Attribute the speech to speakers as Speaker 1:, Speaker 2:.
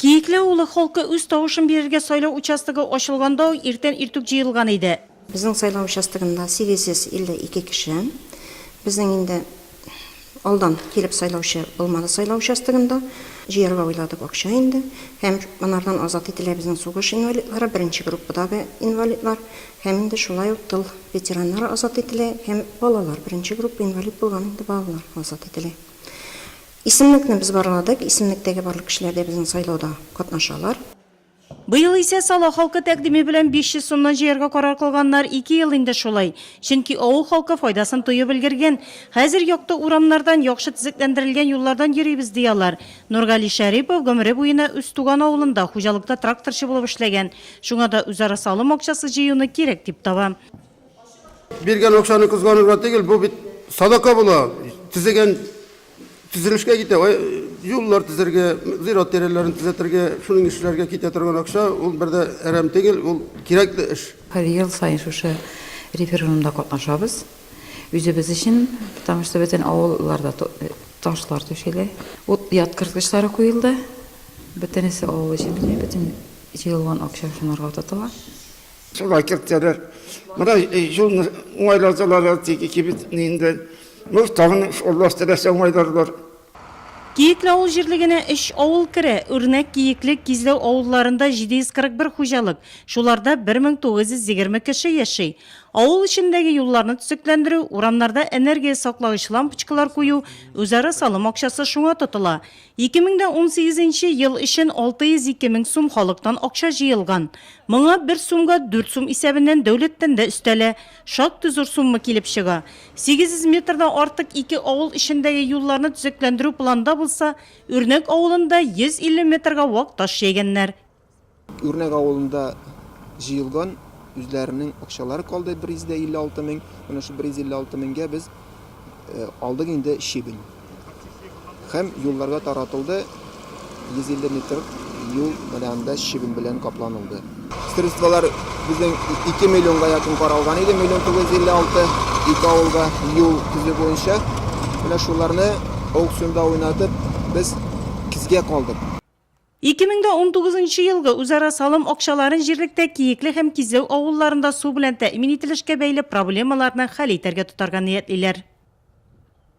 Speaker 1: Киекле авылы халкы үз тавышын бирергә сайлау участогы ачылганда ук иртән иртүк җыелган иде. Безнең сайлау
Speaker 2: участогында 852 кеше. Безнең инде алдан килеп сайлаучы булмады сайлау участогында. Җыярга уйладык акча инде. Һәм монардан азат ителә безнең сугыш инвалидлары, беренче группадагы инвалидлар. Һәм инде шулай ук тыл ветераннары азат ителә һәм балалар, беренче группа инвалид булган инде балалар азат ителә. Исемлекне без барладык, исемлектәге барлык кешеләр дә безнең сайлауда катнашалар. Быел
Speaker 1: исә Сала халкы тәкъдиме белән 500 сумнан җыярга карар кылганнар, ике ел инде шулай. Чөнки авыл халкы файдасын тоеп өлгергән. Хәзер якты урамнардан, яхшы төзекләндерелгән юллардан йөрибез, ди алар. Нургали Шәрипов гомере буена үз туган авылында хуҗалыкта тракторчы булып эшләгән, шуңа да үзара салым акчасы җыюны кирәк дип таба.
Speaker 3: Биргән акчаны кызганырга түгел, бу бит садака була. Төзегән төзелешкә китә, юллар төзергә, зират тирәләрен төзәтергә, шуның эшләргә китә торган акча, ул бер дә әрәм түгел, ул кирәкле эш. Һәр ел саен шушы
Speaker 4: референдумда катнашабыз. Үзебез өчен, потому что бөтен авылларда ташлар түшәлә. Ут яткырткычлары куелды. Бөтенесе авыл өчен бит, бөтен җыелган акча шунарга тотыла. Шулай
Speaker 5: кертәләр. Менә юлны уңайладылар, тик кибетне инде. Ну, тагын Аллаһ теләсә уңайларлар. Киекле
Speaker 1: авыл җирлегенә өч авыл керә, Үрнәк, Киекле, Кизләү авылларында 741 хуҗалык, шуларда 1920 кеше яши. Авыл эчендәге юлларны төзекләндерү, урамнарда энергия саклагыч лампочкалар кую, үзара салым акчасы шуңа тотыла. 2018 нче ел өчен 602 мең сум халыктан акча җыелган. Моңа бер сумга дүрт сум исәбеннән дәүләттән дә өстәлә. Шактый зур сумма килеп чыга. 800 метрдан артык ике авыл эчендәге юлларны төзекләндерү планда булса, Үрнәк авылында 150 метрга вак таш җәйгәннәр. Үрнәк
Speaker 6: авылында җыелган үзләренең акчалары калды 156 мең. Менә шул 156 меңгә без э, алдык инде щебень. Һәм юлларга таратылды 150 метр юл менә анда щебень белән капланылды. Средстволар безнең 2 миллионга якын каралган иде, миллион 956 ике авылга юл төзү буенча. Менә шуларны аукционда уйнатып, без кизгә калдык. Ике мең дә
Speaker 1: унтугыз нчы елгы үзара салым акчаларын җирлектә Киекле һәм Кизләү авылларында су белән тәэмин ителешкә бәйле проблемаларны хәл итәргә тотарга ниятлиләр.